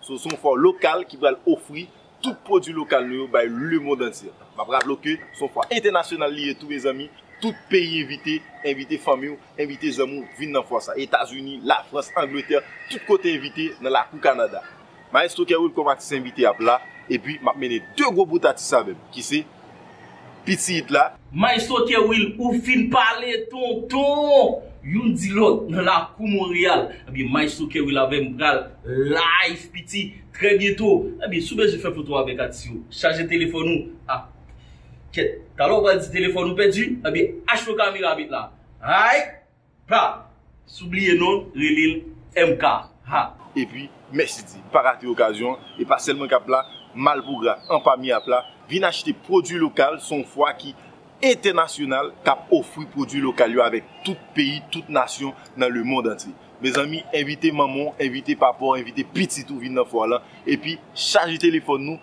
So se yon fwa lokal ki pral ofri tout pwodwi lokal nou yo bay lemond antye. M ap raple w ke se yon fwa entènasyonal li ye tou mezanmi, tout peyi envite, envite fanmi w, envite zanmi w vin nan fwa sa. Etazini, Lafrans, Angletè, tout kote envite nan lakou Kanada. Maestro Kerwil kòm atis envite ap la, epi m ap mennen 2 gwo bout atis avè m ki se. piti it la. Maestro Kerwill ou fin pale tonton Youn di lòt nan lakou Montréal Ebyen maestro Kerwill avèm pral live piti trè byento Ebyen si w bezwen fè foto avèk atis yo chaje telefòn ou ak kèt Talè w pral di telefòn ou pèdi Ebyen achte yon kamera met la Aayt. Pra sou bliye non relel MK ha. Epi mèsi di, pa rate okazyon an, e pa sèl mwen kap la, malpougra anpami ap la, vin achte pwodwi lokal se yon fwa ki entènasyonal kap ofri pwodwi lokal yo avèk tout peyi, tout nasyon nan lemond antye. Mezanmi envite manman w, envite papa w, envite pitit ou vin nan fwa lan epi chaje telefòn nou.